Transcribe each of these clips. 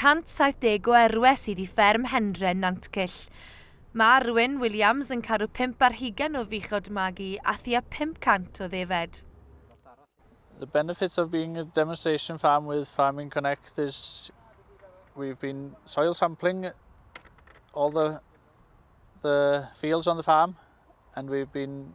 170 o erwe sydd i fferm Hendre, Nantcyll. Mae Arwyn Williams yn caru pump ar hugain o fuchod magu a thua 500 o ddefed. The benefits of being a demonstration farm with Farming Connect is we've been soil sampling all the the fields on the farm and we've been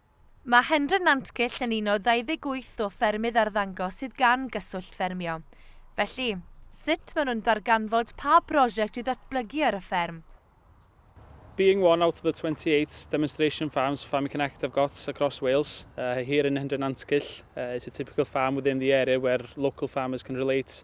Mae Hendra Nantgylch yn un o 28 o ffermydd arddangos sydd gan Gyswllt Ffermio. Felly, sut maen nhw'n darganfod pa brosiect i ddatblygu ar y fferm? Being one out of the 28 demonstration farms Farming Connect have got across Wales, here in Hendra Nantgylch, it's a typical farm within the area where local farmers can relate